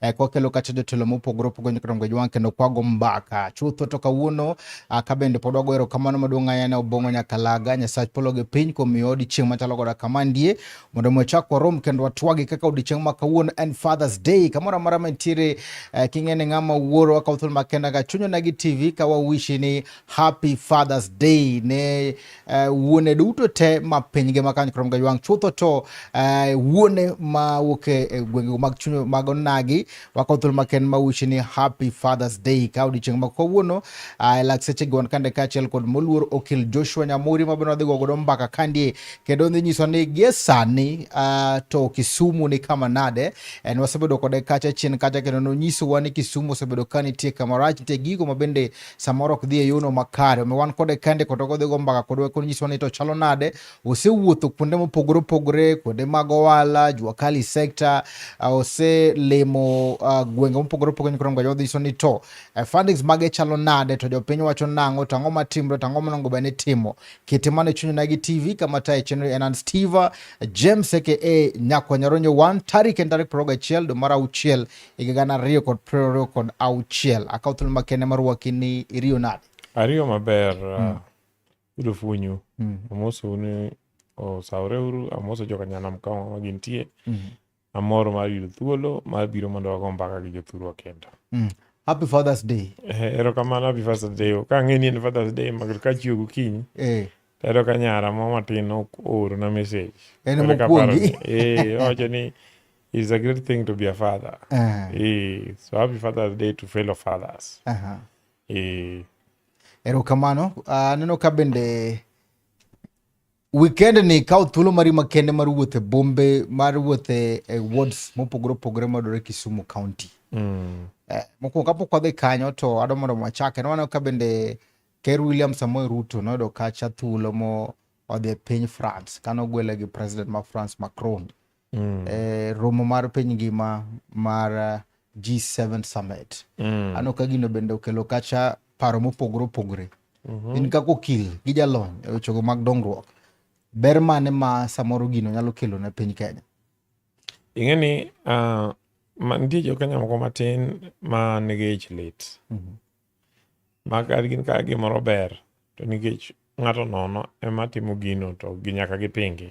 eh, kwa kelo kata jotelo mopogore opogore nyaka dongo jwang kendo kwago mbaka chutho to kawuono ah, ka bende pod wago erokamano maduong' ahinya ne Obong'o Nyakalaga Nyasach polo gi piny kuom miyo odiechieng' machalo koda kama ndie mondo mi wachak warom kendo watwagi kaka odiechieng' ma kawuono en Father's Day kamoro amora mantiere eh, king'e ni ng'ama wuoro akawo thuolo makenda ka chunyo nagi TV ka wawishi ni Happy Father's Day ne uh, wuone duto te ma piny ngima kanyo krom gaywang' chutho to uh, wuone ma wuok e, e gwengego mag chuny mag onagi wako thuolo maken ma wuchi ni happy fathers day ka odiochieng' ma kawuono uh, ah, lak seche gi wan kande kaachiel kod moluor okil joshua nyamuri ma bende wadhi go godo mbaka kandie kendo dhi nyiso ni gie sani uh, to kisumu ni kama nade en wasebedo kode kacha chien kacha kendo nonyisowa ni kisumu osebedo ka nitie kamarach nitie gigo ma bende samoro ok dhi e yono makare. Omiyo wan kode kende kod ogodhi go mbaka kod weko nyiso ni to chalo nade. Osewuotho kuonde mopogore opogore, kuonde mag owala, jua kali sector, uh, oselimo uh, gwenge mopogore opogore koro ngoja odhi nyiso ni to uh, fundings mage chalo nade to jopiny wacho nang'o to ang'o matimre to ang'o monego bed ni timo. Kitima ne chunyona gi TV kama tayo chenro en an Steve James aka Nyakwa Nyaronyo 1 tarik en tarik 21 dwe mar auchiel higa gana ariyo kod piero ariyo kod auchiel akawo thuolo makende mar waki ni iriyo nade ariyo maber hmm. yudo funyu hmm. amoso ni osawore uru amoso joka nyanam ka ma gintie hmm. amor mar yudo thuolo mar biro mondo wago mbaka gi jothurwa kendo happy fathers day eh, erokamano happy fathers day ka ang'e ni en fathers day mago ka chiwo gokinyi eh. tero ka nyara mo matin oorona message en mokwongi eh, owacho ni It's a great thing to be a father. Uh-huh. Eh, so happy Father's Day to fellow fathers. Uh-huh. Eh. Erokamano. Uh, ah, neno ka bende weekend ni kawo thuolo mari makende mar wuothe bombe mar wuothe e wards mopogore opogore madore Kisumu County. Mm. Eh, mokwongo kapok wadhi kanyo to adwa mondo wachake nwaneno ka bende Ker William Samoei Ruto noyudo kacha thuolo mo odhi e piny France kano gwele gi president ma France Macron. mm. e, romo mar piny ngima mar eh, G7 summit mm. ano ka gino bende okelo kacha paro mopogore opogore mm -hmm. in kaka okil gi jalony e wechego mag dongruok ber mane ma samoro gino nyalo kelo ne piny Kenya ing'e ni uh, ma, nitie jo Kenya moko matin ma nigi ich lit mm -hmm. ma ka gin ka gimoro ber to nikech ng'ato nono ema timo gino to ginyaka gipingi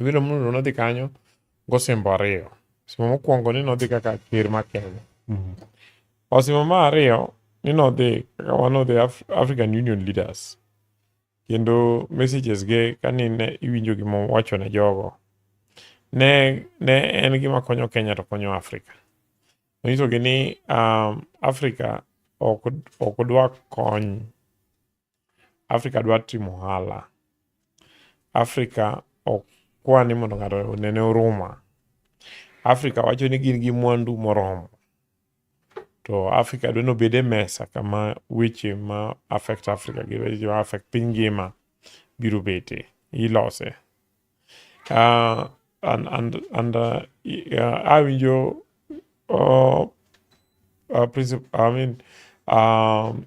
Ibiro mulo ni nodhi kanyo gosimbo ariyo. Osimbo mokwongo ni nodhi kaka ker ma Kenya. Mm-hmm. Osimbo ma ariyo ni nodhi kaka one of the African Union leaders. Kendo messages ge kani ne iwinjo gima wacho ne jogo. Ne, ne en gima konyo Kenya to konyo Afrika. Nonyisogi ni um, Afrika ok, ok dwa kony Africa dwa timo ohala. Africa ok kwa ni mondo ng'ato onene oruma. Africa wacho ni gin gi mwandu moromo. To Africa dwa ni obed e mesa kama weche ma affect Africa gi weche ma affect piny ngima biro bete, ilose. Uh, and, and, and uh, uh, awinjo uh, uh, princip- I mean, um,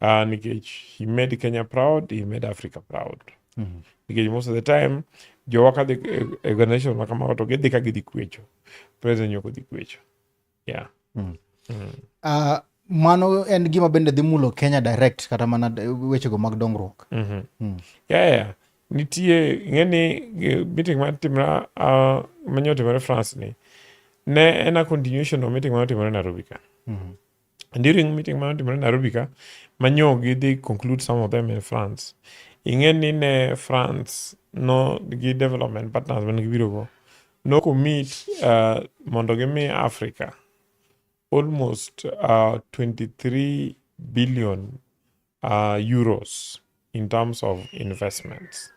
uh, nikech he made kenya proud he made africa proud mm -hmm. nikech most of the time jowa kadhi e, e, e organization ma kamago to gidhi ka gidhi kwecho president nyoko dhi kwecho yeah mm. Mm. Uh, mano en gima bende dhi mulo kenya direct kata mana wechego mag dongruok mm -hmm. mm. yeah, yeah. nitie ing'eni meeting matimra uh, manyo timore france ni ne en a continuation of meeting manotimore nairobi ka mm -hmm. And during meeting ma notimore Nairobi ka, manyo gidhi conclude some of them in France. Ing'e ni ne France no gi development partners man gibiro go. No commit uh, mondo gimi Africa almost uh, 23 billion uh, euros in terms of investments.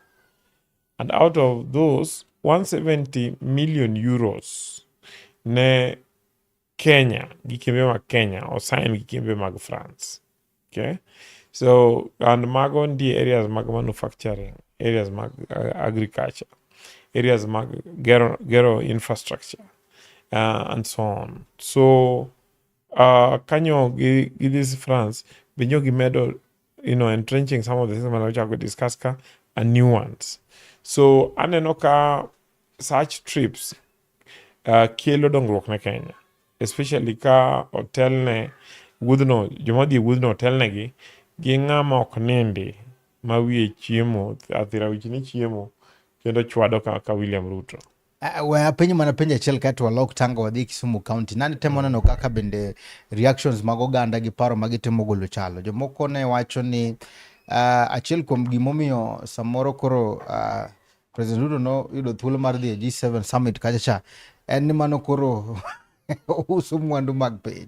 And out of those, 170 million euros ne Kenya gi kembe mag Kenya osain gi kembe mag France. Okay? So, and mago ndie areas mag manufacturing, areas mag uh, agriculture, areas mag gero, gero infrastructure, uh, and so on. So, uh, kanyo gi, gi this France, be nyo gimedo you know, entrenching some of the things I'm going to discuss ka are new ones. So aneno ka such trips uh, kelo dongruok ne Kenya, especially ka otelne wuodhno, joma dhi wuodhno otelnegi gi ng'ama ok nindi ma wiye chiemo, athira wich ni chiemo kendo chwado kaka William Ruto. Ah, we apenjo mana penjo achiel kae to walok tango wadhi Kisumu County. Nani temo neno kaka bende reactions mag oganda gi paro ma gitemo golo chalo. Jomoko ne wacho ni ah, achiel kuom gimomiyo samoro koro ah, President Ruto noyudo thuolo mar dhi e G7 summit kacha cha en ni mano koro uso mwandu mag piny.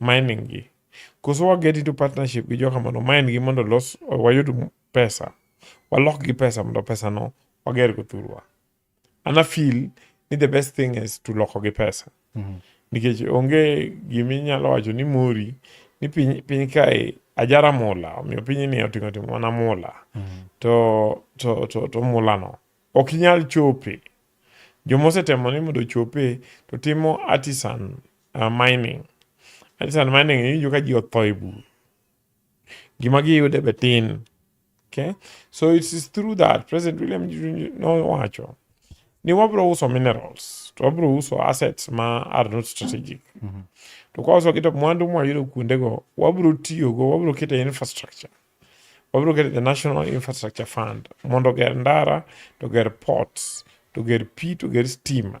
mining gi. Koso wa get into partnership gi joka mondo mine gi mondo los wayud pesa. Walok gi pesa mondo pesa no wager go thurwa. Ana feel ni the best thing is to loko gi pesa. Mm -hmm. Nikech onge giminyalo wacho ni mori ni piny, piny kae ajara mula omiyo piny ni oting'o timo mana mula mm -hmm. to, to, to, to mula no ok inyal chope joma osetemo ni mondo ochope to timo artisan uh, mining artisan mining iwinjo ka ji otho e bur gima giyude be tin okay so it is through that president william nowacho ni wabro uso minerals to wabro uso assets ma are not strategic mm -hmm. to kwa uso kito mwandu mwayudo kuondego wabro tiyogo wabro kete infrastructure wabro kete the national infrastructure fund mondo ger ndara to ger ports to ger pi to ger stima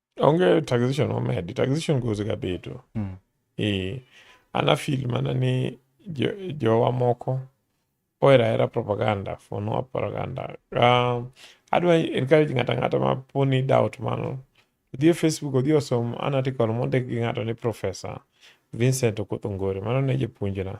Onge taxation omedi, taxation goes ga bedo. Mm. Eh, ana feel mana ni jo, jowa moko ohera hera propaganda for no propaganda. Uh, adwa encourage ng'ata ng'ata ma poni doubt mano. Odhi e Facebook odhi osom an article mondik gi ng'ato ni Professor Vincent Okoth Ongore, mano ne japuonjna.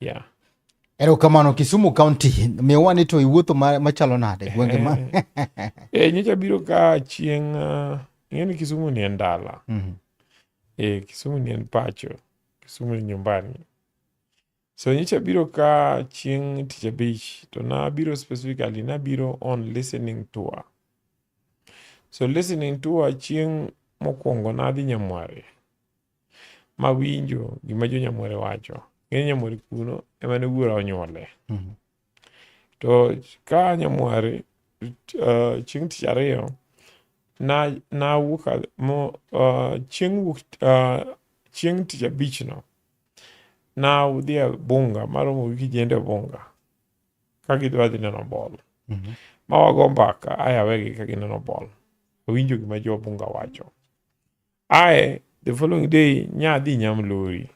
Yeah. Erokamano Kisumu County, miwani to iwuotho machalo nade eh, gwenge ma? Eh, nyocha biro ka chieng' uh, ing'eni Kisumu ni en dala. Mm -hmm. Eh, Kisumu ni en pacho. Kisumu ni nyumbani. So nyocha biro ka chieng' tich abich to nabiro specifically nabiro on listening tour. So listening tour chieng' mokwongo nadhi Nyamwari. ma winjo gima jo nyamore wacho ng'e nyamore kuno ema ne wuora onyuole mhm. to ka nyamwari uh, chieng' tich ariyo na nawuok mo uh, chieng' wuok uh, chieng' tich abichno na udhi e bunga maromo gi kijende bunga ka gidwa dhi neno bol mm -hmm. ma wago mbaka ayawegi ka gineno bol awinjo gima jo bunga wacho Ae the following day nyadhi Nyamlori.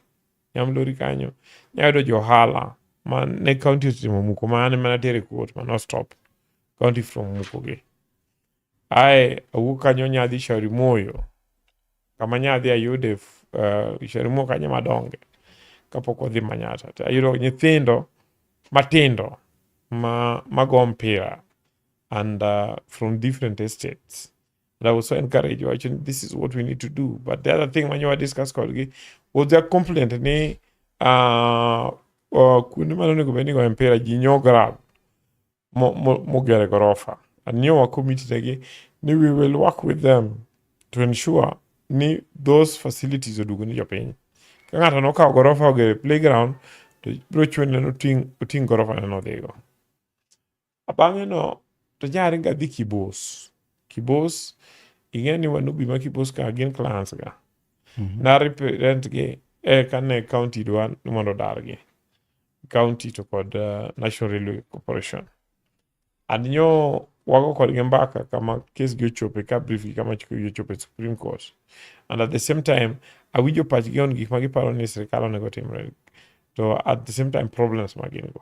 Nyamlori kanyo nyayudo johala ma ne county osetimo muko ma an mana tere court ma no stop county from muko gi. Ae awuok kanyo nyadhi Shauri Moyo kama nyadhi ayude uh, Shauri Moyo kanyo madonge kapok odhi Manyata. To Ayudo nyithindo matindo ma mago mpira and uh, from different estates And I will so encourage you actually this is what we need to do. But the other thing when you are discuss kodgi was their complaint ni uh, uh, kuonde ma nonego bed ni goyo mpira ji nyo grab mogere gorofa anyowa committee tegi ni we will work with them to ensure ni those facilities oduogo ni jopiny ka ng'ato nokawo gorofa ogere playground to biro chune noting' oting' gorofa neno dhigo Bang'eno to nyari ga dhi Kibos. Kibos ing'e ni Wanubi ma Kibos ka gin clans ga. Mm -hmm. Na represent gi e kane county dwa ni mondo odargi. County to kod uh, National Railway Corporation. Adinyo wago kodgi mbaka kama kes gi ochope ka brief gi kama chik gi ochope Supreme Court. And at the same time, awinjo pachgi on gik ma giparo ni sirkal onego timre. To at the same time, problems ma gin go.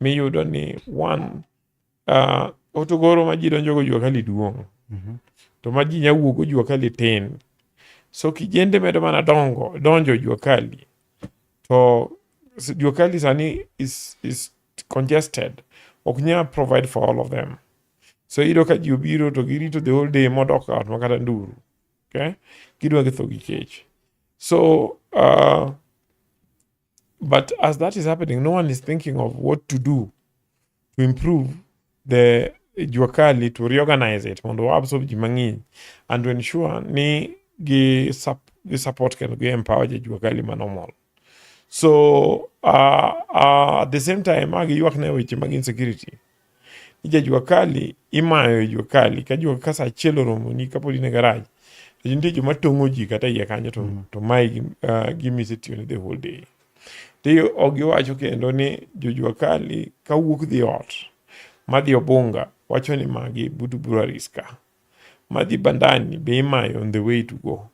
miyudo ni one uh, otogoro ma ji donjogo jua kali duong' mm -hmm. to ma ji nya wuogo jua kali tin so kijende medo mana dongo donjo jua kali to jua kali sani is, is congested ok nya provide for all of them so iyudo ka ji obiro to girito the whole day modok ot makata nduru okay? gidwa githo gi kech so uh, But as that is happening, no one is thinking of what to do to improve the jua kali to reorganize it mondo waabsorb ji mang'eny and to ensure ni gi, sup, gi support kendo gi empower ji jua kali ma normal so uh, uh, at the same time agi ywak ne weche mag insecurity ni jajua kali imayo e jua kali ka jua ka saa achiel oromoni kapod in e garaj to nitie joma tong'o ji kata iye kanyo to, mm. to mae gi, uh, gimise tiyone the whole day to ok giwacho kendo ni jojua kali ka wuok dhi ot madhi obunga wacho ni magi butu breweries ka madhi bandani be imayo on the way to go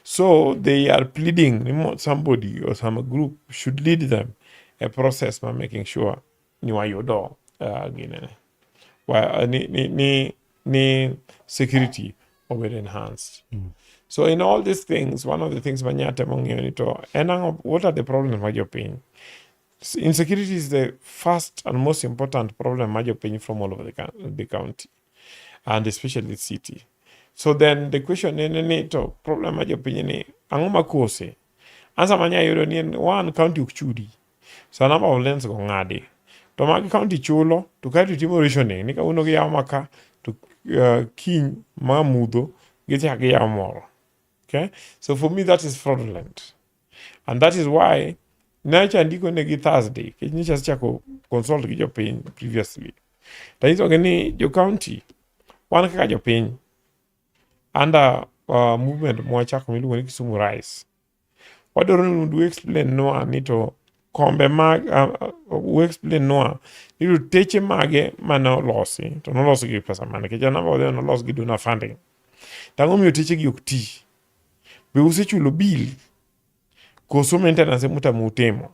so they are pleading somebody or some group should lead them a process by making sure ni wayudo uh, ginene wa, ni, ni, ni, ni security obed enhanced mm. so in all these things one of the things manya temo ng'eyo ni to en ang'o what are the problems ma jopiny insecurity is the first and most important problem ma jopiny from all over the, the county and especially the city so then the question en ni to problem ma jopiny ni ang'o makose ansa manya yudo ni en one county ok chudi Sa number of lanes go ng'adi. To mag county chulo, to kae to itimo rationing ni kawuono giyawo ma ka, to uh, kiny ma mudho gichak giyawo moro. Okay? So for me that is fraudulent. And that is why nacha andiko negi Thursday, kech nyicha chako consult gi jopiny previously. Tanyisogi ni jo county wan kaka jopiny under uh, movement mwachako miluongo ni Kisumu Rise wadwaro ni mondo explain nwa ni to kombe mag uh, explain nwa ni to teche mage mane olosi to nolosi gi pesa mane nikech anamba wadhi nolos gi donor funding to ang'o miyo techegi ok ti be usechulo bill koso maintenance emutamo utimo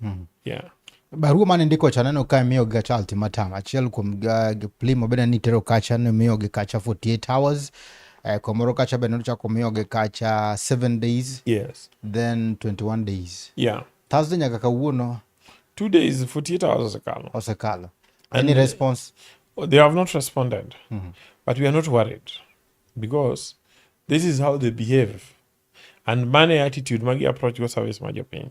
Mm. Yeah. Barua mane ndiko cha neno ka miyo ga cha ultimatum achiel kuom uh, plimo bende ni tero kacha ne miyo gi kacha 48 hours uh, eh, komoro kacha bende nochako miyo gi kacha 7 days yes then 21 days yeah Thursday nyaka kawuono two days 48 hours osekalo osekalo any and response oh, they have not responded mm -hmm. but we are not worried because this is how they behave and money attitude magi approach go service ma jopiny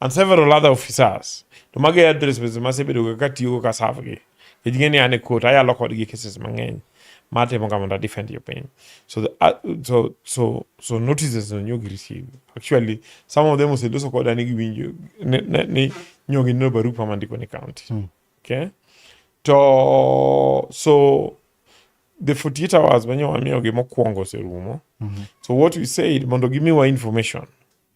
and several other officers to magi e addresses masebedoga katiyogo ka serve gi nikech ng'e ni an e court ayalo kodgi cases mang'eny matimo ka mondo defend your pain so the, uh, so so so notices no nyogi receive actually some of them oseloso koda ni giwinjo ni, ni, ni nyogi neno barupa mandiko ni county mm. okay to so the 48 hours manyo wamiyogi mokwongo oserumo mm -hmm. so what we said mondo gimiwa information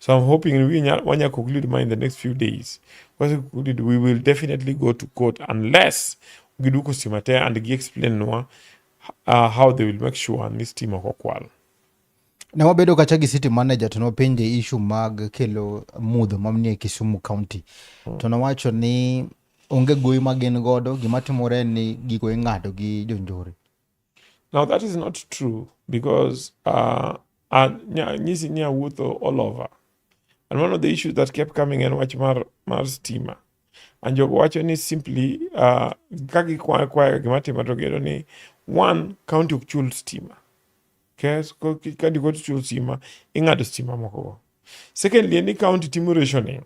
So I'm hoping we Wanya conclude mine in the next few days. Once we conclude, we will definitely go to court unless Giduko Simate and Gi explain Noah uh, how they will make sure and this team okokwal. Ne wabedo kacha gi city manager to nopenje issue mag kelo mudho mamnie Kisumu County. Hmm. To nowacho ni onge goyi ma gin godo, gima timore ni gigo ing'ado gi jonjore. Now that is not true because uh, uh, nyisi ni awuotho all over and one of the issues that kept coming en wach mar, mar stima and jogo wacho ni simply uh, ka gikwayo kwayo gima timo to giyudo ni one county ok chul stima kes ka dikoti chul stima ing'ado stima mokogo secondly ni county timo rationing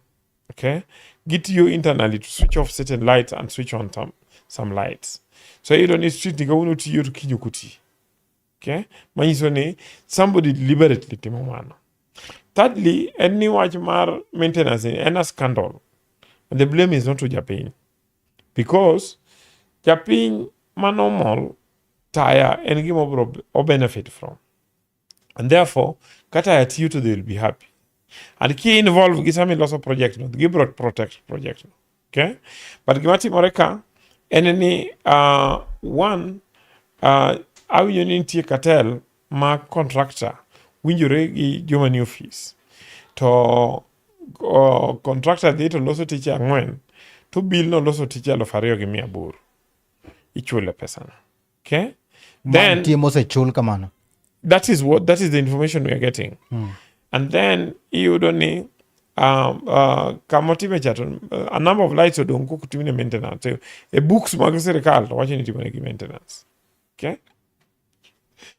okay gitiyo internally to switch off certain lights and switch on some, some lights so iyudo ni street ni kawuono tiyo to kiny ok oti okay manyiso ni somebody deliberately timo mano thirdly en ni wach mar maintenance en a scandal and the blame is not to japiny because japiny ma normal taya en gima obro obenefit from and therefore kata at you to they will be happy and ki involve gi sami loso project no gi brought protect project no okay but gima timore ka en ni uh, one uh, awinjo ni nitie cartel ma contractor winjore gi joma ni office to uh, contractor dhi to loso tich ang'wen to bill no loso tich aluf ariyo gi mia aboro ichule pesana Okay? Then mantie mosechul kamano. That is what that is the information we are getting. Mm. And then iyudo ni um, uh, kama otime cha to uh, a number of lights odong kok timne maintenance. E, e books mag sirkal to wacho ni timone gi maintenance. Okay?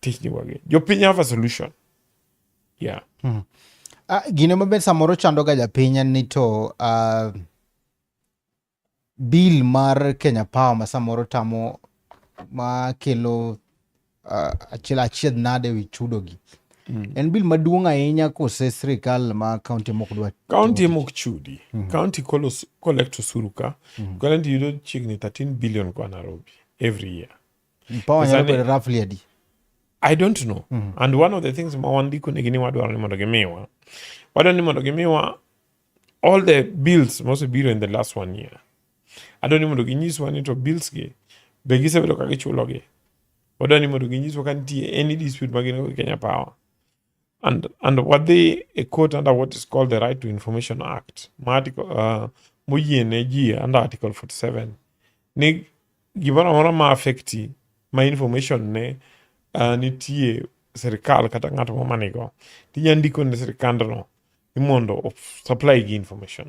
tich dhi wagi jopiny have a solution yeah hmm. uh, gine maber samoro chandoga japiny en ni to uh, bill mar kenya power ma samoro tamo ma kelo uh, achiel achiedh nade wi chudogi mm. en bill maduong' ahinya kose sirikal ma kaunti mok dwa kaunti mok chudi mm. kaunti collect osuru ka mm. kaunti yudo chiegni 13 billion kwa nairobi every year i don't know mm -hmm. and one of the things mawandiko ni gini wadwaro ni mondo gimiwa wadwaro ni mondo gimiwa all the bills mosebiro in the last one year adwaro ni mondo ginyiswa ni to bills gi be gisebedo ka gichulogi wadwaro ni mondo ginyiswa ka nitie any dispute magin go gi kenya power And, and what they a court under what is called the Right to Information Act, article, uh, muyiene under Article 47, ni gimoro amora ma affecti ma information ne uh, nitie serikal kata ng'ato ma manigo tinya ndiko ne serikandno ni mondo supply gi information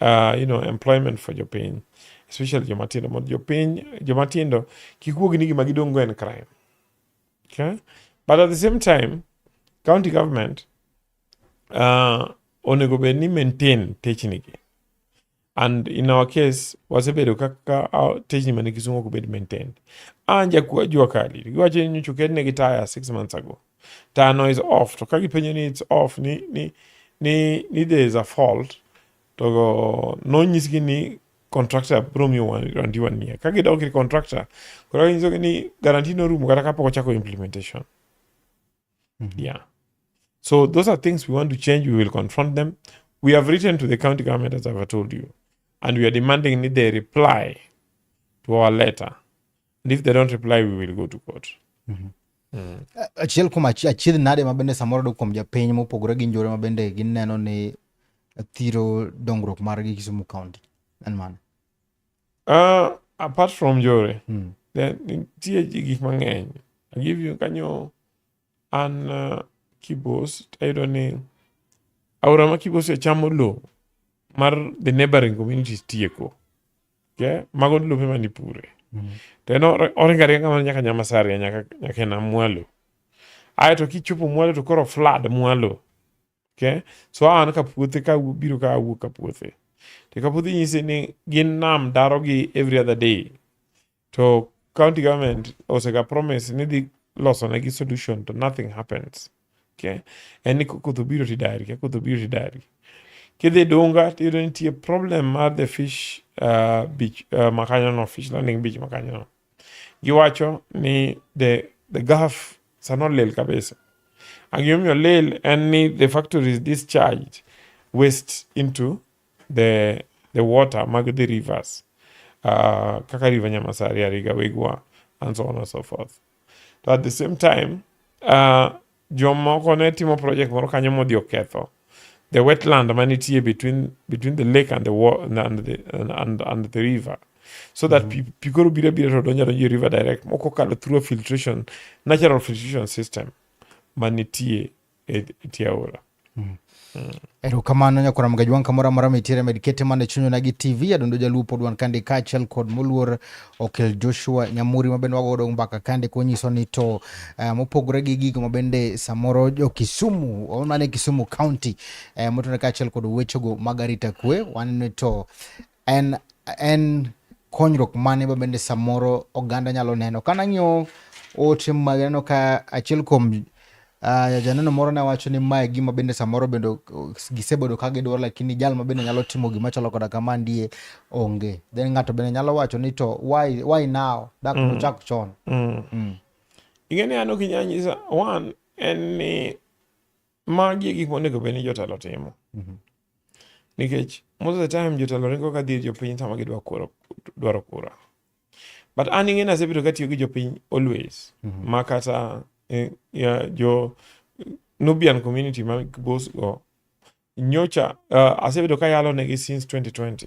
uh, you know, employment for jopiny especially jomatindo mondo jopiny jomatindo kik wuogi ni gima gidong' go en crime okay? but at the same time county government uh, onego bed ni maintain technigi and in our case wasebedo kaka uh, techni mane kisungu ok bed maintained an jakwa jua kali giwacho ni nyochukedne gi taya six months ago tano is off to ka gipenjo ni it's off ni ni ni, ni there is a fault to nonyisgi ni contractor bro mi garanti one year ka gidok ir contractor koro ginyisogi ni garanti norumo kata kapok ochako implementation mm -hmm. yeah so those are things we want to change we will confront them we have written to the county government as i've told you and we are demanding that they reply to our letter and if they don't reply we will go to court mm -hmm. Mm. achiel kuom achiedh nade ma bende samoro dok kuom japiny mopogore gi njore ma bende gineno ni thiro dongruok margi Kisumu County en mano uh, apart from njore mm. nitie gik mang'eny agive you kanyo an uh, kibos tayudo ni aora ma kibos ochamo lowo mar the neighboring communities tieko okay? mago lope ma nipure mm -hmm. to en oringo aringa mana nyaka nyamasaria nyaka, nyaka ena mwalo aye to kichopo mwalo to koro flood mwalo okay? so an ka puothe ka biro ka awuok ka puothe to ka puothe nyise ni gin nam darogi every other day to county government osega promise ni dhi loso ne gi solution to nothing happens okay en ni koth obiro ti dari ka koth obiro ti dari kidhi dunga tiyudo nitie problem mar the fish uh, beach uh, makanyo no fish landing beach makanyo no giwacho ni the the gulf sano lel kabisa angimomiyo lel en ni the factories discharged waste into the, the water mag the rivers uh, kaka river Nyamasari, Ariga, Wigwa and so on and so forth. To at the same time uh, jomoko ne timo project moro kanyo modhi oketho the wetland manitie between between the lake and the water and the and, and the river so that mm -hmm. pi koro biro biro to donjo donjo river direct moko kalo through filtration natural filtration system manitie e tiaora mm. mm. erokamano nyakwara mga jwanka moro amora mitiere med kete mana e chunyona gi tv adundo jaluo pod wan kande kaachiel kod moluor okel joshua nyamuri mabende wagodo mbaka kande konyiso ni to uh, mopogore gi gigo mabende samoro jokisumu omane kisumu county uh, eh, motone kaachiel kod wechego mag arita kwe waneno to en en konyruok mane ma bende samoro oganda nyalo neno ka nang'iyo ote mag neno ka achiel kuom uh, janeno moro ne wacho ni mae gima bende samoro bende gisebedo ka gidwaro lakini jal ma bende nyalo timo gima chalo koda kama ndie onge then ng'ato bende nyalo wacho ni to why, why now dak mm. nochak chon mm. mm. ing'e ni an ok inyanyisa one en ni Magi e gik monego bed ni jotelo timo. Mhm. Nikech most of the time jotelo ringo ka dhir jopiny sama gidwa kura, dwaro kura. But an ing'e nasebedo katiyo gi jopiny always. Mm -hmm. Ma kata eh, ya, jo Nubian community ma boss go nyocha uh, asebedo ka yalo negi since 2020.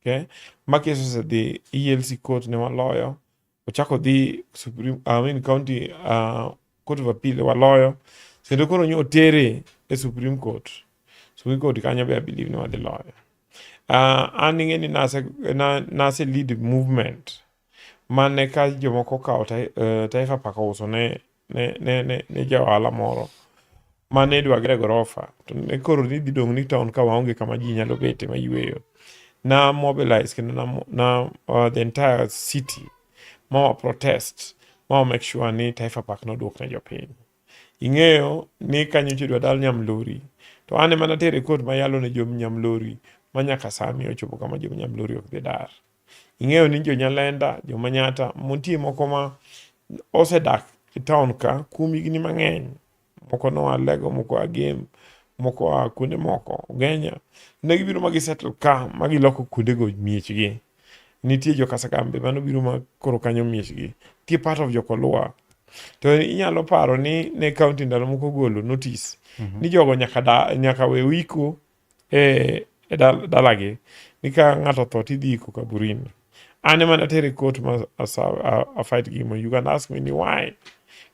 Okay? Ma keso osedhi ELC court ne waloyo ochako odhi Supreme, I mean, county uh, court of appeal waloyo kendo koro nyo otere e Supreme Court. Supreme Court kanyo be I believe ni wadhi loyo. Uh, an ing'e ni nase, na, nase lead movement mane ka jomoko okawo tai- eh, Taifa Park ouso ne ne, ne, ne, ne jaohala moro ma ne dwa gere gorofa to ne koro ni dhi dong' ni town ka waonge kama ji nyalo bete ma yueyo na mobilize kendo na, na uh, the entire city ma wa protest ma wa make sure ni Taifa Park nodwok ne jopiny ing'eyo ni kanyocha idwa dal nyamlori to an ema natere kot mayalo ne jom nyamlori ma nyaka sani ochopo kama jom nyamlori ok dhi dar Ing'eyo ni jonyalenda, jomanyata, nitie moko ma osedak e taon ka kuom higni mang'eny. Moko noa Lego, moko oa Gem, moko oa kuonde moko, Ugenya. Ne gibiro ma gisettle ka ma giloko kuondego miechgi. Nitie jo Kasagam be mano biro ma koro kanyo miechgi. Nitie part of Jokolua. To inyalo paro ni ne kaunti ndalo moko golo notice ni jogo nyaka, da, nyaka we wiko e, e dalagi ni ka ng'ato otho to idhi iko kaburini an ema natere kot ma afight gi mo you can ask me ni why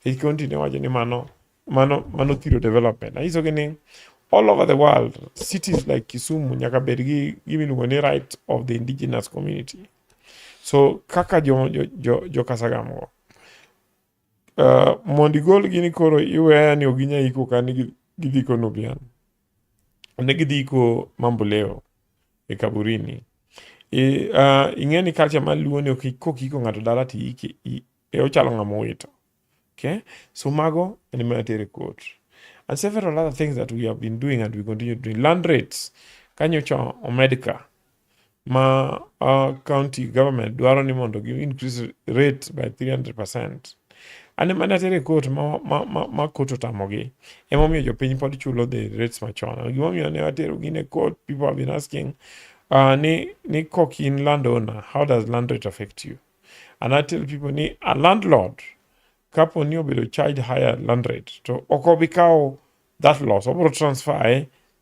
e county ne wacho ni mano mano mano thiro development anyisogi ni all over the world cities like kisumu nyaka bed gi gimiluongo ni right of the indigenous community so kaka jo, jo, jo, jo kasagam go Uh, mondo igol gini koro iweya ni ok ginya iko ka ni gidhi ko nubian ne gidhi iko mamboleo e kaburini e, uh, ing'e ni kacha ma luo ni ok kok iko ng'ato dala ti ike e ochalo ng'ama owito okay so mago en ma tere court and several other things that we have been doing and we continue doing land rates kanyocha omedka ma uh, county government dwaro ni mondo gi increase rate by 300 percent ane mana tere kot ma, ma, ma, ma kot otamogi emomiyo jopiny pod chulo the rates machon gimomiyo ne watero gin e court people have been asking uh, ni, ni kok in landowner how does land rate affect you and i tell people ni a landlord kapo ni obedo charge higher land rate to ok obi kawo that loss obiro transfer e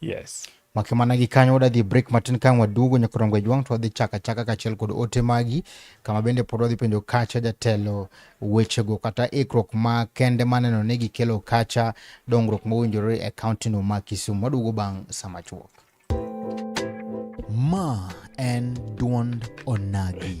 Yes. Make mana gi kanyo wadhi e break matin ka waduogo nyaka romgo jwang' to wadhi chaka chaka kachiel kod ote magi kama bende pod wadhi penjo kacha jatelo wechego kata ikruok ma kende maneno ni gikelo kacha dongruok mowinjore e kaunti no ma Kisumu. Waduogo bang' sama chuok. Ma en duond onagi.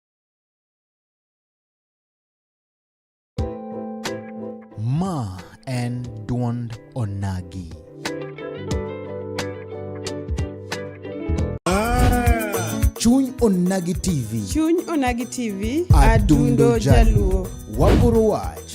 Ma en duond onagi. Chuny Onagi TV. Chuny Onagi TV, Adundo adundo Jaluo. jaluo. Waguro wach.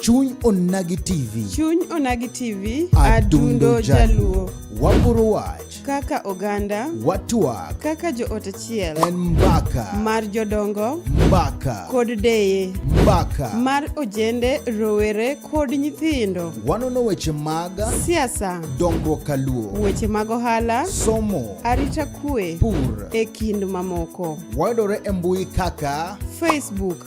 Chuny Onagi TV. Chuny Onagi TV. Adundo Jaluo. Waporo wach. Kaka oganda. Watwak. Kaka joot achiel. En mbaka. Mar jodongo. Mbaka. Kod deye. Mbaka. Mar ojende, rowere kod nyithindo. Wanono weche mag. Siasa. Dongruok kaluo. Weche mag ohala. Somo. Arita kwe. Pur. E kind mamoko. Wayudore e mbui kaka. Facebook.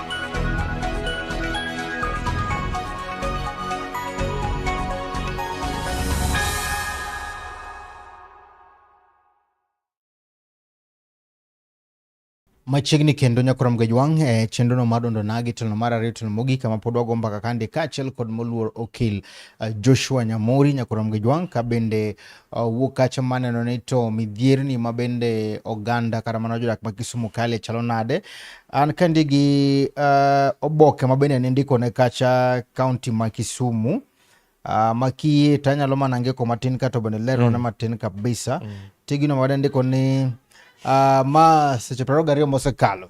machiegni kendo nyakoram gajwang' e eh, chenrono mar dondo nagi telo mar ariyo telo mogik kama pod wago mbaka kande kaachiel kod moluor okil eh, Joshua Nyamori nyakoram gajwang' ka bende Uh, wuok kacha maneno ni to midhierni ma bende oganda kata mana jodak ma Kisumu kale chalo nade. An kandi gi uh, oboke ma bende nindiko ne kacha kaunti ma Kisumu uh, ma kiyie to anyalo mana ngeko matin kato bende lero mm. matin kabisa mm. tigino ma ndiko ni uh, ma seche praro gariyo mosekalo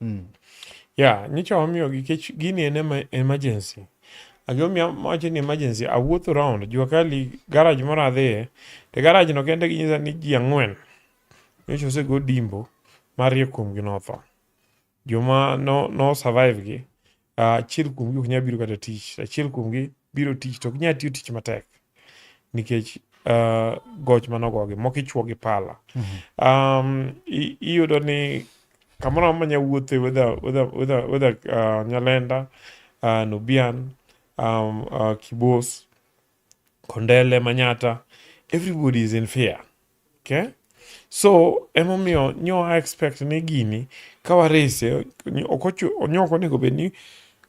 Mm. Yeah, nyicha wamiyogi kech gini en ema, emergency. Agiomiya wacho ni emergency, awuotho round jua kali garage moro adhiye, to garage no kende ginyisa ni ji ang'wen nyocha osego dimbo mariyo kuomgi notho. Joma no, no survive gi Ah, achiel kuomgi ok nyal biro kata tich achiel kuomgi biro tich to ok nyal tiyo tich matek nikech ah, goch manogogi moko ichuo gi pala um, i- iyudo ni kamoro amora manya wuothe whether, whether, whether, whether uh, nyalenda uh, nubian um, uh, kibos Kondele, Manyatta, everybody is in fear. Okay? So emomiyo nyo a expect ni gini ka warese ok onego bed ni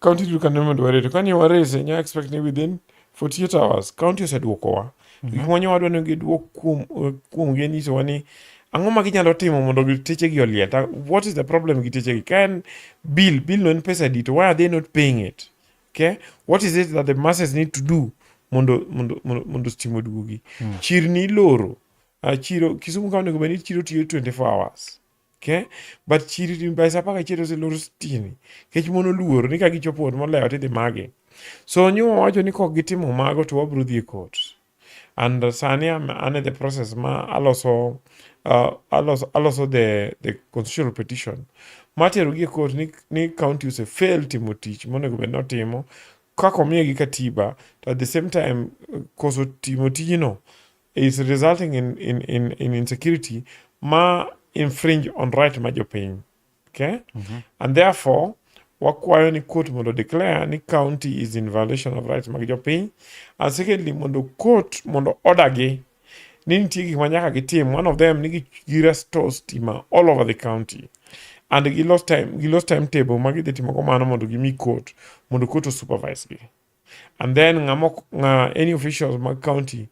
county duto kane mondo warete kane warese nyo expect ni within 48 hours county oseduokowa mhm. gik manyo wadwa ni giduok kuom kuom gi nyisowa ni ang'o ma ginyalo timo mondo techegi oliel what is the problem gi techegi ka en bill bill no en pesa di to why are they not paying it Okay? What is it that the masses need to do mondo mondo mondo, mondo stima oduogi? Mm. Chirni iloro. Uh, chiro Kisumu kaunti onego bed ni chiro tiyo 24 hours. Okay? But chiri by saa apar gachiel oseloro sitini nikech mon oluoro ni ka gichopo ot molewo tidhi magi. So nyo wawacho ni kok gitimo mago to wabiro dhi e court. and sani am an e the process ma aloso uh, aloso, aloso the, the constitutional petition matero gi e court ni, ni county ose fail timo tich monego bed notimo kaka omiye gi katiba to at the same time koso timo tijno is resulting in, in, in, in insecurity ma infringe on right ma jopiny Okay? Mm -hmm. And therefore, wakwayo ni court mondo declare ni county is in violation of rights mag jopiny and secondly mondo court mondo order gi ni nitie gik ma nyaka gitim one of them ni girestore stima all over the county and gilos time gilos timetable ma gidhi timogo mano mondo gimi court mondo court osupervise gi and then ng'ama ng'a any officials mag county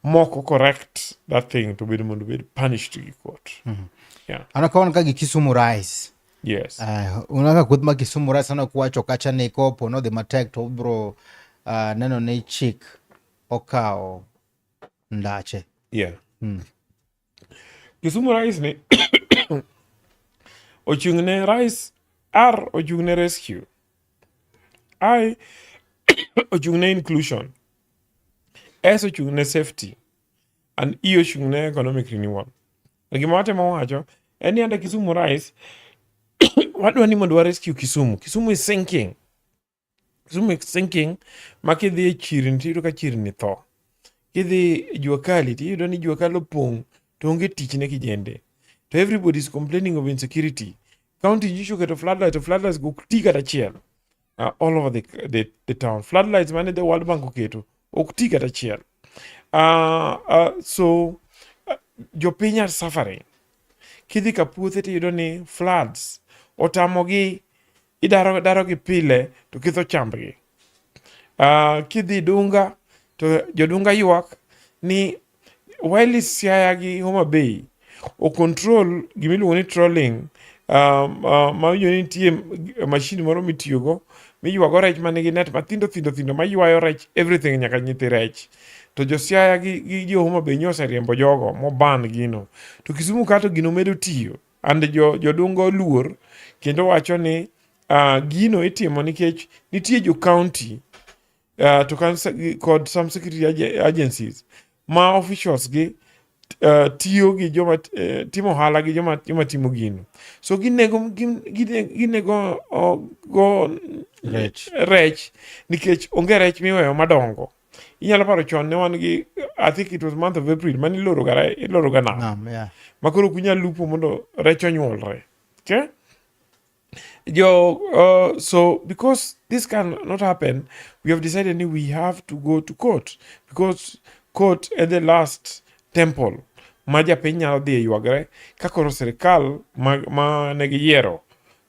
moko correct that thing to bed mondo bed punished gi court mm -hmm. yeah. anakaona ka gi Kisumu Rise yes uh, eh, unaka kuth ma Kisumu Rise sana kuwacho kacha ni kopo no the matek to bro uh, eh, neno ni chik okawo ndache yeah mm. Kisumu Rais ni ochung' ne Rais R ochung' ne rescue. I ochung' ne inclusion. S ochung' ne safety. And E ochung' ne economic renewal. To gima watemo wacho en ni ande Kisumu Rais wadwa ni mondo wa rescue Kisumu. Kisumu is sinking. Kisumu makes thinking ma kidhi e chirni to iyudo ka chirni tho. Kidhi jua kali to iyudo ni jua kali opong' to onge tich ne kijende. To everybody is complaining of insecurity. County nyicho keto floodlight to floodlights go ok ti kata achiel. Uh, all over the, the, the town. Floodlights mane the World Bank oketo ok ti kata achiel. Uh, uh, so uh, jopiny are suffering. Kidhi ka puothe to iyudo ni floods otamogi idaro darogi pile to kitho chambgi. Uh, kidhi Dunga to jodunga ywak ni while Siaya gi Homa Bay o control gima iluongo ni trolling um, uh, ma winjo ni nitie mashin moro mitiyogo miywago rech ma nigi net mathindo thindo thindo maywayo rech everything nyaka nyithi rech to josiaya gi, gi jo Homa Bay nyo oseriembo jogo moban gino to Kisumu kato gino medo tiyo and jo jodunga oluor kendo wacho ni uh, gino itimo nikech nitie jo county uh, to kod some security agencies ma officials gi uh, tiyo gi joma uh, timo ohala gi joma, joma timo gino so ginego ginego uh, go rech. rech nikech onge rech miweyo madongo inyalo paro chon ne wan gi i think it was month of april mane iloroga iloroga nam Nam, yeah. ma koro ok unyal lupo mondo rech onyuolre okay? jo uh, so because this can not happen we have decided ni we have to go to court because court at the last temple ma japiny nyalo dhi e ywagre ka koro sirkal ma, ma ne giyiero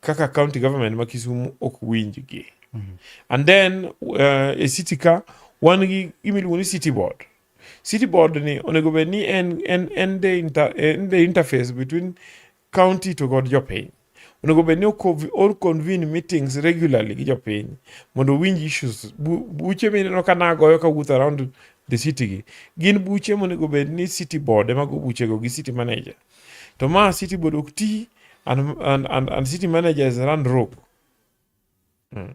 kaka county government ma Kisumu ok winjgi. Mm -hmm. And then uh, e city ka wan gi gima iluongo ni city board. City board ni onego bed ni en, en, en, the inter, en the interface between county to god jopiny onego bed ni or convene meetings regularly gi jopiny mondo winj issues buche mineno ka nagoyo ka wuoth around the city gi gin buche monego bed ni city board ema go buchego gi city manager to ma city board ok ti and, and, and, and city manager is run rope Hmm.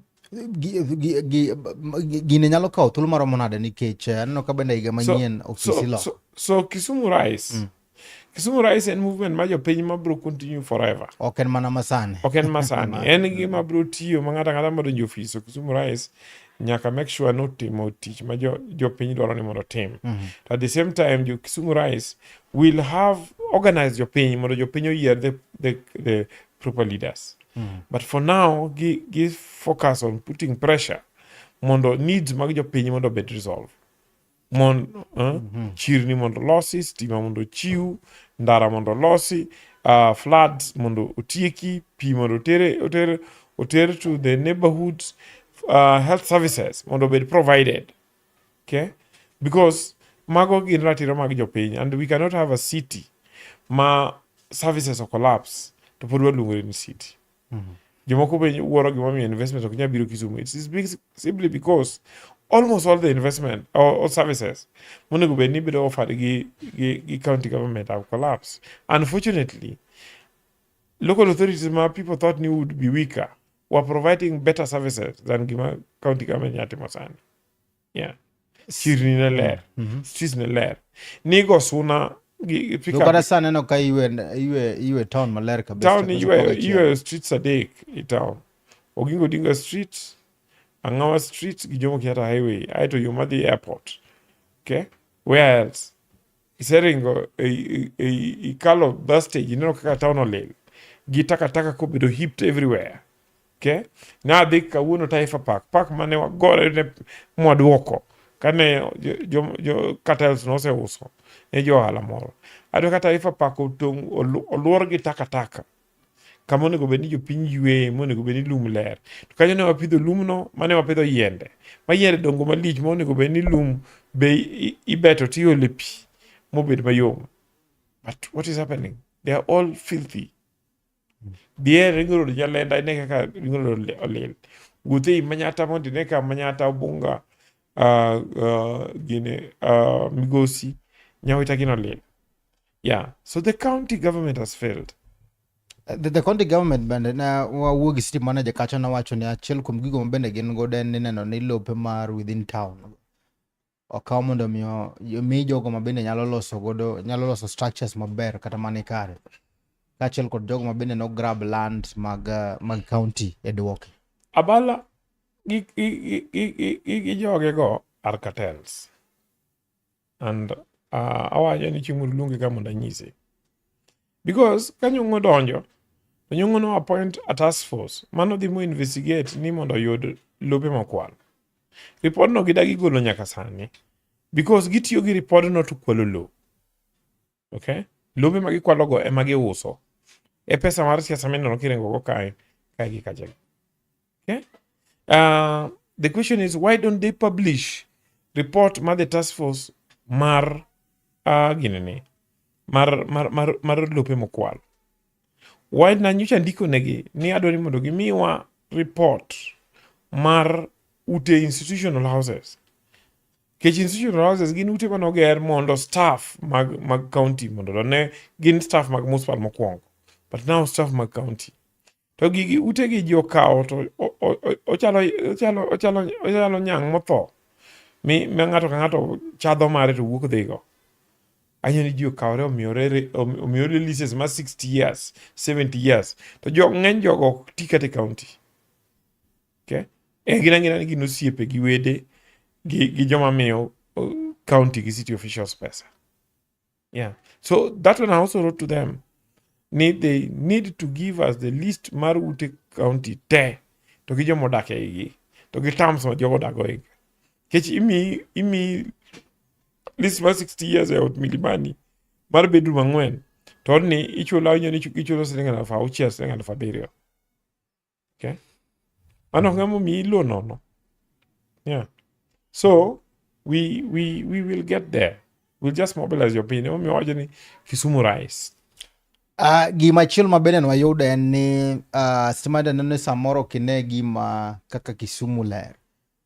Gine nyalo kawo thuolo maromo nade nikech eh, aneno ka bende higa manyien ofisi lo. So, so Kisumu Rise. Mm. Kisumu Rise en movement ma jopiny ma bro continue forever. Ok en mana masani. Ok en masani. en gima bro tiyo ma ng'ata ng'ata madonjo ofis so Kisumu Rise nyaka make sure ni otimo tich ma jopiny dwaro ni mondo otim mm -hmm. to at the same time jo Kisumu Rise will have organize jopiny mondo jopiny oyier the, the, the proper leaders Mm. But for now, gi, gi focus on putting pressure mondo needs mag jopiny mondo obed resolve. Mon, uh, eh, mm -hmm. chirni mondo losi, stima mondo chiw, ndara mondo losi, uh, floods mondo otieki, pi mondo otere, otere, otere to the neighborhoods, uh, health services mondo obed provided. Okay? Because mago gin ratiro mag jopiny and we cannot have a city ma services o collapse to pod waluongore ni city mm -hmm. jomoko be wuoro gimomiyo investment ok nyal biro kisumu it is big, simply because almost all the investment or, or services monego bed ni bedo offered gi, gi, gi county government have collapsed unfortunately local authorities ma people thought ni would be weaker were providing better services than gima county government nya timo sani yeah chirni ne ler mm -hmm. streets ne ler nigo suna kata sa neno ka iwe town maler kabisatown iwe streets adek i town ogingo dinga street angawa street gi jomo kenyatta highway aeto yo madhi airport okay where else Iseringo e, e, e, ikalo bus stage ineno kaka town olil gi takataka kobedo heaped everywhere okay? nadhi kawuono Taifa Park park mane wagore ne mwaduoko kane jo, jo, jo cartels noseuso ne jo ohala moro aduo ka Taifa Park otong' oluor gi takataka kama onego bed ni jopiny yweye monego bed ni lum ler to kanyo ne wapidho lumno mane wapidho yiende ma yiende dongo malich ma onego bed ni lum be ibeto tiole pi mobed mayom but what is happening they are all filthy dhier ringo rodo nyalenda ine kaka ringo rodo olil wuothe i manyata mondo ine ka manyata obunga uh, uh, gine uh, migosi nyawita gino olil Yeah. So the county government has failed. Uh, the, the county government bende ne wawuo gi city manager kacha nowacho ni achiel kuom gigo ma bende gin godo en ni neno ni lope mar within town okaw mondo miyo mi jogo ma bende nyalo loso godo nyalo loso structures maber kata mani kare kaachiel kod jogo ma bende no grab land mag uh, mag county e duoke abala gi gi gi gi gi joge go are cartels and uh, awacho ni chieng' moro luonge ka mondo anyise because ka nyong'o donjo to nyong'o no appoint a task force mano dhi mo investigate ni mondo oyud lope mokwal ripodno gidagi golo nyaka sani because gitiyo gi ripodno to kwalo lowo Okay? Lobe ma gikwalogo ema giuso. E pesa mar siasa mineno kiringogo kae kae gi kacha. Okay? Uh, the question is why don't they publish report mar the task force mar uh, ginene mar, mar, mar, mar lope mokwal why na nyocha ndiko negi ni adwa ni mondo gimiwa report mar ute institutional houses Nikech institutional houses gin ute mane oger mondo staff mag, mag county mondo to ne gin staff mag municipal mokwongo but now staff mag county to gigi ute gi ji okawo to ochalo ochalo ochalo ochalo nyang' motho mi ma ng'ato ka ng'ato chadho mare to wuok dhigo anyo ni ji okawore omiyore omiyore leases ma 60 years 70 years to jo ng'eny jogo ti kata e county Okay? E gin angina ni gin osiepe gi wede gi, gi joma miyo uh, county gi city officials pesa. Yeah. So that one I also wrote to them. Need they need to give us the list mar ute county te to gi joma odak eigi to gi terms ma jogo odago eigi. Kech imi imi list mar 60 years e ot Milimani mar bedroom ang'wen to ni ichulo awinjo ni ichulo siling' alaf auchiel siling' alaf abiriyo. Okay. Mano mm. ng'ama omiyi low nono. Yeah. So we we we will get there. We'll just mobilize your opinion. Omiyo wacho ni Kisumu rise. Uh, gima chielo ma bende wayudo en ni uh, ah, stima neno ni samoro kine gima kaka Kisumu ler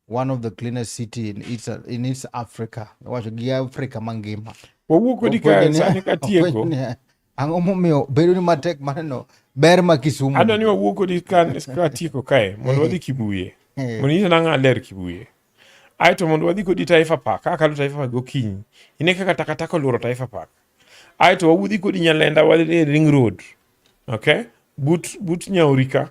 one of the cleanest city in East, in East Africa wacho gi Africa mangima wawuok kodi ka sani ka tieko ang'o momiyo bedo ni matek maneno ber ma Kisumu adwa ni wawuok kodi ka ka tieko kae mondo wadhi Kibuye eh. mondo nyisa nang'a ler Kibuye ae to mondo wadhi kodi Taifa Park ka kalo Taifa Park gokinyi ine kaka takataka oluoro Taifa Park ae to wawuodhi kodi Nyalenda wadhi e Ring Road okay but but Nyaurika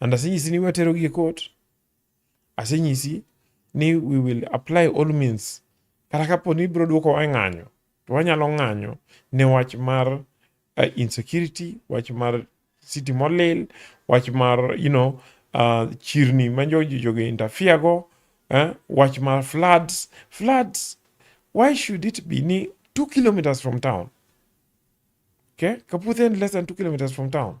And asenyisi ni watero gi e court. Asenyisi ni we will apply all means. Kata kapo ni ibiro duoko wa ng'anyo, to wanyalo ng'anyo ne wach mar uh, insecurity, wach mar city molil, wach mar, you know, uh, chirni ma jogi jogi interfere go, eh? wach mar floods. Floods, why should it be ni two kilometers from town? Okay? Kaputhe less than two kilometers from town.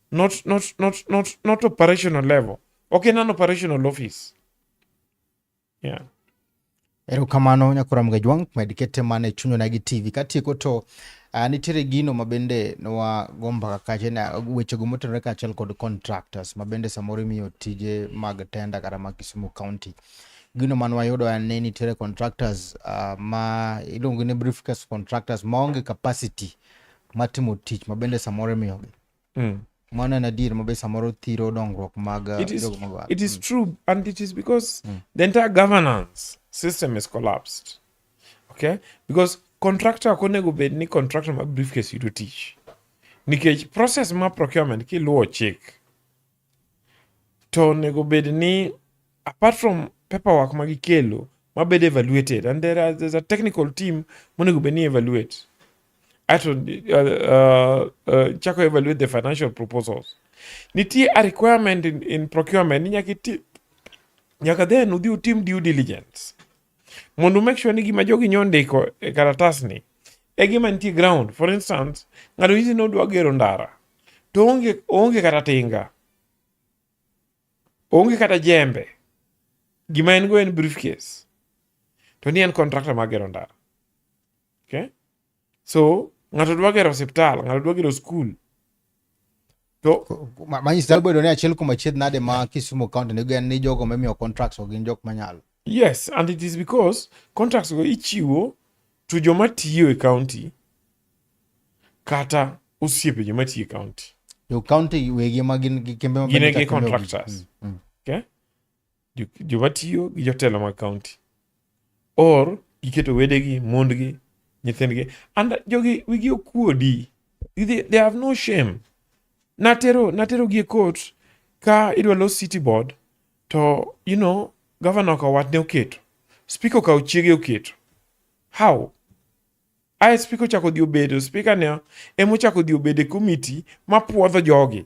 not, not, not, not, not operational level. Okay, non operational office. Yeah. Erokamano nyakora mgajwang' med kete mana e chunywa nagi TV katieko to uh, nitiere gino ma bende nowa gomba kache na wechego motenore kaachiel kod contractors ma bende samoro imiyo tije mag tenda kata mag Kisumu County gino man wayudo en ni nitiere contractors uh, ma iluongo ni briefcase contractors maonge capacity matimo tich ma bende samoro imiyogi mm. mano en adier mabe samoro thiro dongruok mag uh, it is, it is mm. true and it is because mm. the entire governance system is collapsed okay because contractor ok onego bed ni contractor ma briefcase yudo tich nikech process ma procurement kiluwo chik to onego bed ni apart from paperwork ma gikelo mabed evaluated and there are, there's a technical team monego bed ni evaluate ato uh, uh, uh, chako evaluate the financial proposals nitie a requirement in, in procurement ni nyaka then udhi utim due diligence mondo make sure ni gima jogi nyo ndiko e karatasni e gima nitie ground. For instance, ng'ato nyisi ni odwa gero ndara to onge, onge kata tinga, onge kata jembe, gima en go en briefcase to ni en contractor mar gero ndara okay? So ng'ato dwa gero osiptal, ng'ato dwa gero skul. To manyisi nyalo bedo ni achiel kuom achiedh nade ma Kisumu County nigo en ni jogo mimiyo contracts go gin jok manyalo. Yes, and it is because contracts go ichiwo to joma tiyo e county kata osiepe joma tiyo e county. Jo county wegi ma gin gi kembe ma gin gi contractors. Mm, mm. Okay? joma tiyo gi jotelo mag kaunti or giketo wedegi mondgi nyithindgi and jogi wigi okuodi they, they have no shame natero natero gi e court ka idwa los city board to you know gavana okawo watne oketo spika okawo chiege oketo how ae spika ochako dhi obedo spika ne emochako dhi obedo e komiti mapwodho jogi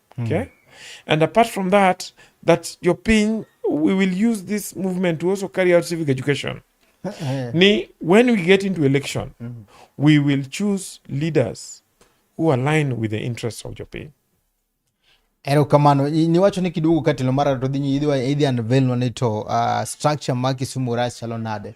Hmm. Okay? And apart from that, that your pin, we will use this movement to also carry out civic education. Eh. Ni, when we get into election, mm. we will choose leaders who align with the interests of your pin. Erokamano niwacho ni kiduogo ka telo mar ariyo to dhi nyi idhi unveil nwa ni to uh, structure ma Kisumu Rach chalo nade?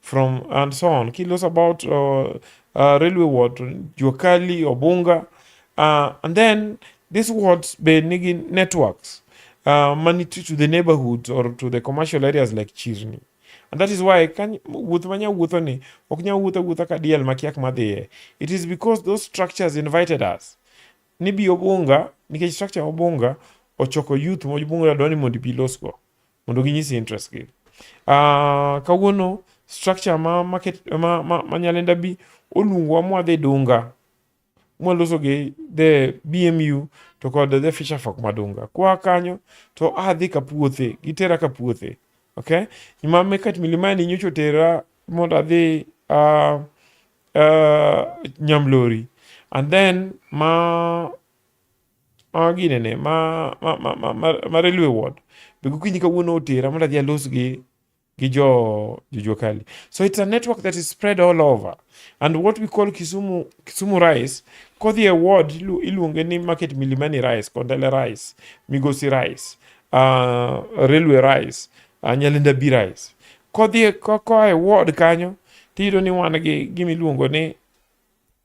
from and so on kilos about uh, uh, railway ward juakali obunga uh, and then these wards be nigi networks uh, money to, to the neighborhoods or to the commercial areas like chirni and that is why kany wuoth manya wuotho ni ok nya wuotho wuotha ka diel makiak madhiye it is because those structures invited us ni bi obunga nikech structure obunga ochoko youth mobunga dwani mondo ibi losgo mondo ginyisi interest gi. Uh, kawuono structure ma, market, ma, ma, ma Nyalenda bi oluongowa mwadhi Dunga mwaloso gi the BMU to kod the Fisher Folk ma Dunga. Kwa kanyo to adhi ka puothe, gitera ka puothe. Okay? Nyuma mekat milimani nyocho tera mondo adhi uh, uh, Nyamlori. And then ma ma ginene ma ma ma ma, ma, ma railway ward be gokinyi kawuono otera mondo adhi alos gi gi jo jojuakali so it's a network that is spread all over and what we call kisumu kisumu rice kodhi e ward ilu- iluonge ni market milimani rice kondele rice migosi rice uh, railway rice uh, nyalinda b rice kodhi e- ko- koa e ward kanyo tiyudo ni wan gi gimiluongo ni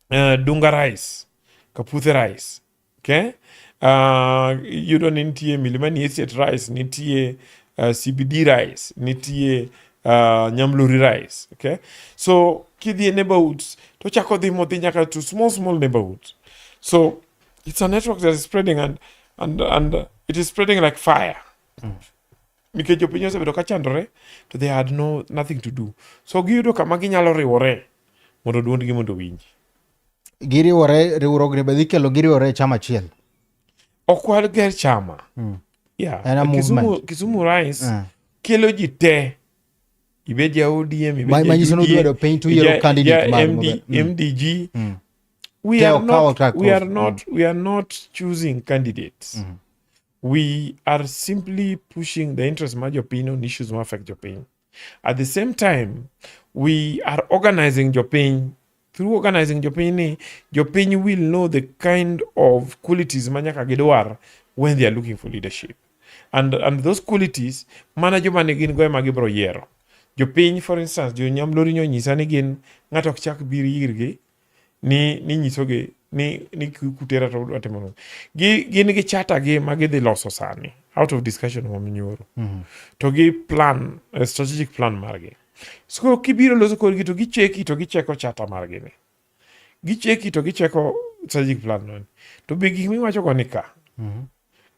uh, dunga rice kaputhe rice okay uh, yudo ni nitie milima ni asiat rice nitie uh, cbd rice nitie uh, nyamluri rice okay so kidhi e neighborhoods to chako dhi modhi nyaka to small small neighborhoods so it's a network that is spreading and and and it is spreading like fire mm. nikech jopiny osebedo ka chandore to they had no nothing to do so giyudo kama ginyalo riwore mondo duondgi mondo winji giriwore riwruogni be dhi kelo giriwore e chama achiel ok wager chama mm. yeah. Era Kisumu, movement. Kisumu Rise uh. kelo ji te ibed ja ODM manyiso ni udwaro piny to yiero candidate mar MD, MDG mm. we, are not, we, are not, mm. we are not choosing candidates mm. we are simply pushing the interest ma jopiny on issues ma affect jopiny at the same time we are organizing jopiny through organizing jopiny ni jopiny will know the kind of qualities ma nyaka gidwar when they are looking for leadership and, and those qualities mana joma ne gin go ema gibro yiero jopiny for instance jonyamlori nyonyisa ni gin ng'ato ok chak bir irgi ni ni nyisogi ni ni kutera to udwa timo nang'o. Gi gin gi chata gi ma gidhi loso sani out of discussion ma minyoro. To gi plan eh, strategic plan margi. So koro kibiro loso kodgi to gicheki to gicheko chata margi ni. Gicheki to gicheko strategic plan no. To be gik miwacho go ni ka.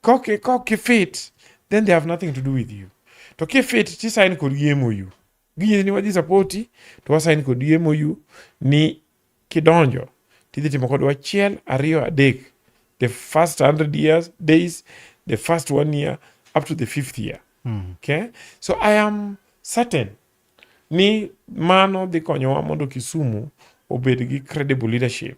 Kok kok fit then they have nothing to do with you. To kifit tisain kodgi MOU. Ginyisi ni wadhi sapoti to wasain kod yie moyu ni kidonjo tidhi timo kodwa achiel ariyo adek the first 100 years days the first one year up to the fifth year mm. okay? so i am certain ni mano dhi konyowa mondo Kisumu obed gi credible leadership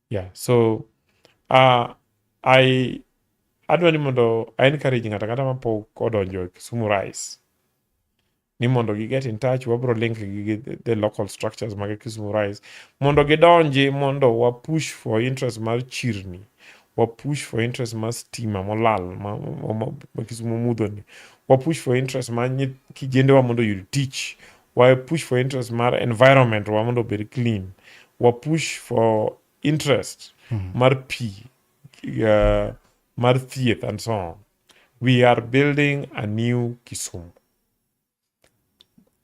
yeah so uh, i adwa ni mondo i encourage ng'ata ng'ata mapok odonjo e kisumu rice ni mondo gi get in touch wabro link gi the local structures mag kisumu rice mondo gidonji mondo wa push for interest mar chirni wa push for interest mar stima molal ma, ma, ma, ma kisumu mudhoni wa push for interest mar kijendewa mondo yud tich wa push for interest mar environment wa mondo obed clean wa push for interest mm. mar pi uh, mar thieth and so on we are building a new kisumu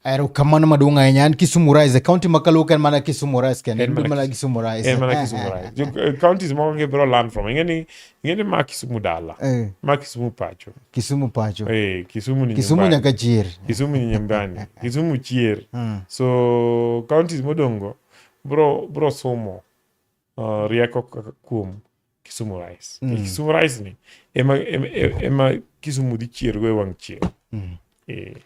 erokamano maduong' ahinya an kisumu rise kaunti ma kaluo ka en mana kisumu rise kende en mana kisumu rise en mana kisumu rise counties moko gibiro land from ing'e ni ngene ma kisumu dala eh. ma kisumu pacho kisumu pacho eh, kisumu ni kisumu nyaka chier kisumu ni nyambani kisumu chier hmm. so counties modongo bro bro somo uh, rieko kuom kisumu rice mm. kisumu rice ni ema, ema, ema kisumu dhi chier go e wang' chieng mm. eh.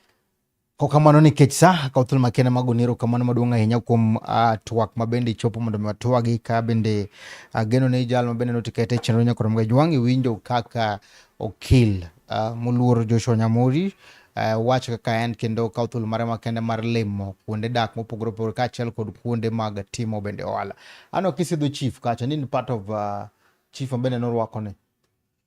Kokamano nikech sa akawo thuolo makende mag goniro kamano maduong' ahinya kuom uh, twak ma bende ichopo mondo mi watwagi ka bende uh, geno ne jal ma bende notikete e chenro nyakoro mga jwang' iwinjo kaka okil uh, moluor Joshua Nyamori uh, wach kaka en kendo kawo thuolo mare makende mar limo kuonde dak mopogore opogore kaachiel kod kuonde mag timo bende ohala. Ano kisidho chief kacha ni part of uh, chief ma bende norwako ni.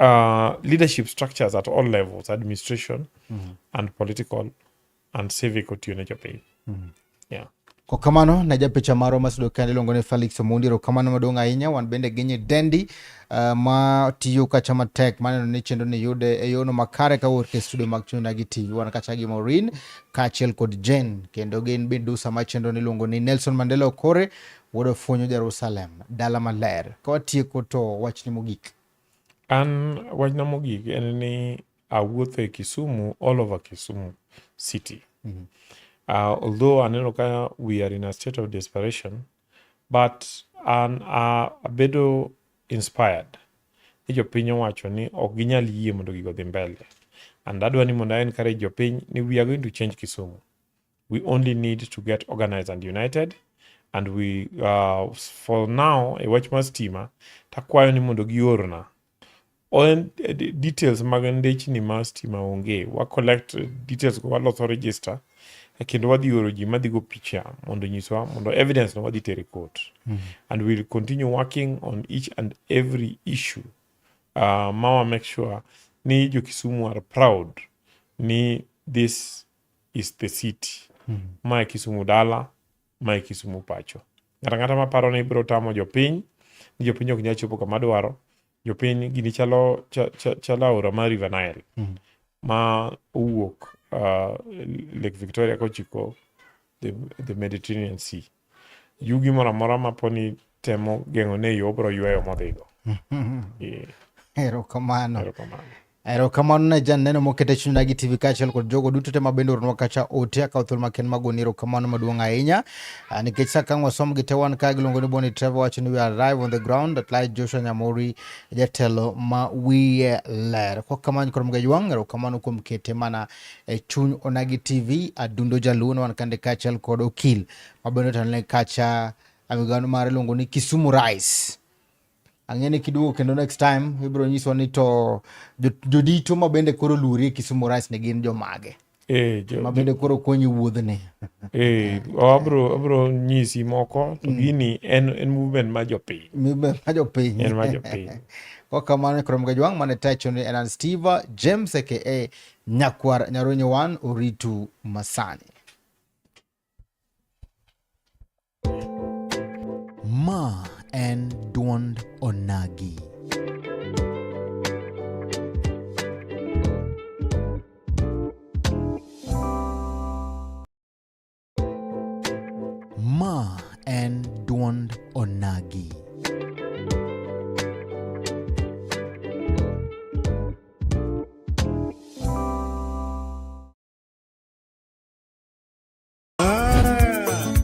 uh, leadership structures at all levels administration mm -hmm. and political and civic otiyo ne jopiny mm -hmm. yeah. Kwa kamano na japicha marwa masudo kende iluongo ni Felix Omondi kamano maduong' ahinya wan bende ginyi dendi uh, ma tiyo kacha matek maneno ni chenro ni yude e yono makare ka wuok e studio mag Chuny Nagi TV wan kacha gi Maureen kaachiel kod Jane kendo gin bende dusa ma chenro ni iluongo ni Nelson Mandela Okore wuod Ofunyo Jerusalem dala maler ka watieko to wachni mogik An wachna mogik en ni awuotho e Kisumu all over Kisumu city. Mm -hmm. uh, although aneno ka we are in a state of desperation but an uh, abedo inspired ni jopiny owacho ni ok ginyal yie mondo gigo dhi mbele and adwa ni mondo a encourage jopiny ni we are going to change Kisumu. We only need to get organized and united and we uh, for now e wach mar stima takwayo ni mondo giorna eh, details mag ndechni ma stima onge wa collect details go waloso register e kendo wadhi oro ji madhigo picha mondo nyiswa mondo evidence no wadhi tere court mm -hmm. and we'll continue working on each and every issue uh, mawa make sure ni jokisumu are proud ni this is the city. Mm -hmm. Mae Kisumu dala, mae Kisumu pacho. Ng'ata ng'ata ma paro ni ibiro tamo jopiny, ni jopiny ok nyal chopo kama dwaro, jopiny gini chalo, chalo aora mar River Nile. Mm -hmm. Ma owuok uh, Lake Victoria kochiko the, the Mediterranean Sea. yugi moro amora ma poni temo geng'o ne yo obro yweyo modhigo Eh, erokamano erokamano erokamano ne jan neno mokete chuny dagi tv kaachiel kod jogo duto te ma bende oronwa kacha ote akawo thuolo maken magoni erokamano maduong' ahinya Ah, nikech sa kang' wasom gi te wan ka giluongo ni boni trevor wacho ni we are arrive on the ground at light joshua nyamori jatelo ma wiye ler kwa kamano koro mga ywang' erokamano kuom kete mana e chuny onagi tv adundo jaluono wan kande kaachiel kod okil mabende otelone kacha amigano mare iluongo ni kisumu rice ang'e ni kiduogo kendo next time ibiro nyiswa ni to jodito ma bende koro luori e kisumu rice ne gin jomage eh, ma bende koro konyi wuodhni eh, abro abro nyisi moko to mm. gini en en movement ma jopiny movement ma jopiny en ma jopiny kwa kamano koro mgajwang' mane tacho ni enan steve james aka Nyakwar Nyaronye wan oritu masani. Ma en duond onagi. Ma en dwond onagi.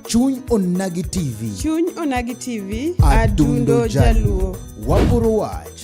Chuny Onagi TV. Chuny Onagi TV, Adundo Adundo Jaluo. Jaluo. Waporo wach.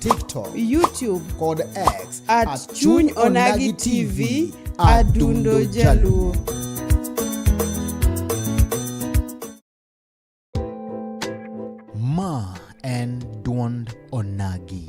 TikTok, YouTube kod X at, at Chuny Onagi TV Adundo Jaluo. Ma en duond Onagi.